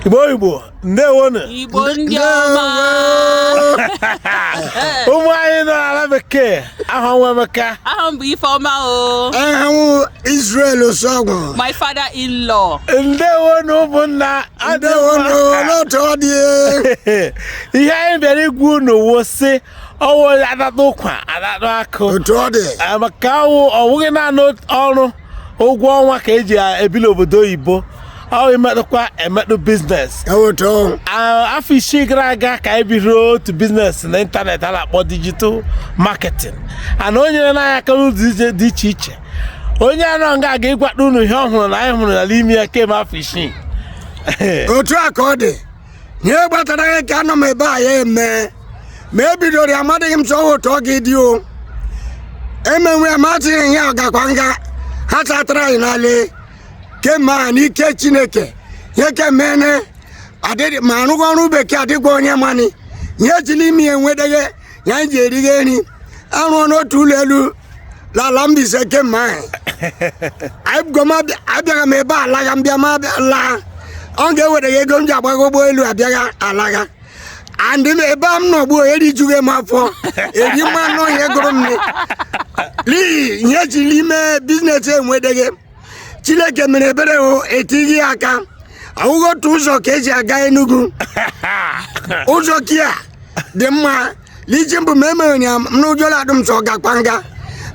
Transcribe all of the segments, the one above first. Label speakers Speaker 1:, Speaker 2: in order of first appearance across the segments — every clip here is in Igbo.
Speaker 1: igbo igbo ndewonu igbo ndị ọma ụmụ anyị nọ n'ala bekee aha m wụ emeka aha m bụ ifeọma
Speaker 2: o aha m
Speaker 3: israel osuagwu my father in
Speaker 2: law
Speaker 1: ndewonu ụmụnna
Speaker 3: ndewonu n'otu ọ
Speaker 1: dị ihe anyị bịara ịgwa unu wụ sị ọwụ atatụ ụkwa atatụ akụ otu ọ dị
Speaker 3: maka
Speaker 1: ọwụghị naanị ọrụ ụgwọ ọnwa ka eji ebi l'obodo oyibo ọ wụ imetụkwa emetụ biznes afọ isii gara aga ka anyị bidoro otu biznes na ịntanetị a na-akpọ digital marketing and o nyerena anyị aka n'ụzọ dị iche iche onye a nọ nga a ga ịgwatụ unu ihe ọ hụrụna anyị hụrụna l'ime ya kemgbe afọ isii
Speaker 3: otu a ka ọ dị ihe kpatara ya ka anọ m ebe a ya eme ma e bidoro ya amadịghị m sọ otu ọ ga-adị o emenwe ya matịghị ihe ọ gakwa nga ha chatara anyị n'ale kemgbe ahụ n'ike chineke ihe kemene adịghị m arụghị ọrụ bekee adịgwa onye mana ihe esi l'ime ya enweteghe ya anyị ji erighe nri arụọna otu ụlọ elu l'ala Mbaise kemgbe ahụ anyị bụgo m abịa- abịaghị m ebe alagha m bịa m laa ọ ga-ewere gị ego m ji agbagha ụgbọelu abịagha alagha anọdị m ebe a m nọ ugbu a erijughe m afọ eri ma anụ ihe gụrụ m n'ihi ihe esi l'ime biznes enweteghe chineke mere ebere o etighị ya aka ọwụghị otu ụzọ ka eji aga enugu ụzọ ke a dị mma isi mbụ ma emere ya ụjọ la-atụ m sọ gakwa nga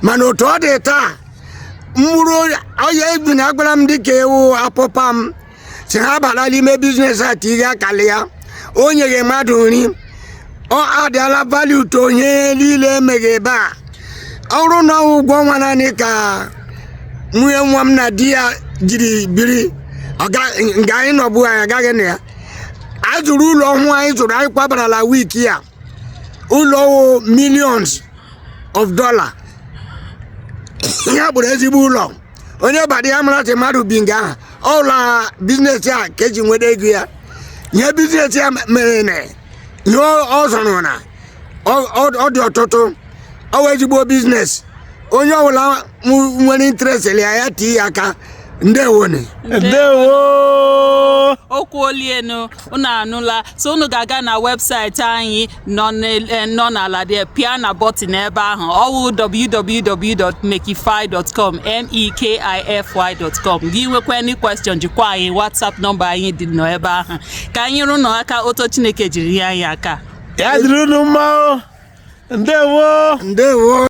Speaker 3: mana otu ọ dị taa mkpụrụ ọya ebi na agwara m dịka ewu apụpa m si ha bara l'ime biznes a tighe aka li ya o nyeghe mmadụ nri ọ adịala vali uto onye niile emeghe ebe a ọrụ na ụgwọ ọnwa naanị ka nwunye nwa m na di ya jiri biri nga anyị nọbu anyị agaghị na ya anyị zụrụ ụlọ ọhụụ anyị zụrụ anyị kwabarala week a ụlọ ọhụụ millions of dollar ihe bụrụ ezigbo ụlọ onye bata ya mara sị mmadụ bi nga ahụ ọ wụ la bizinesi a ka eji nweta ego ya ihe bizinesi a merena ihe ọ zụrụna ọ dị ọtụtụ ọ wụ ezigbo bizinesi onye ọbụla nwere interest li ya ya tii ya aka ndewonu
Speaker 2: ndewo okwu olienu unu anụla so unu ga-aga na webụsaịtị anyị nọ n'el- eh, nọ n'ala gị pịa na bọtịn ebe ahụ ọwụ www.mekify.com mekify.com gị nwekwa any question zikwa anyị whatsapp nọmba anyị dị n'ebe ahụ ka anyị nyere unu aka otu chineke jiri nye anyị aka ya
Speaker 1: dịrị unu
Speaker 2: mma
Speaker 1: o ndewo
Speaker 2: ndewo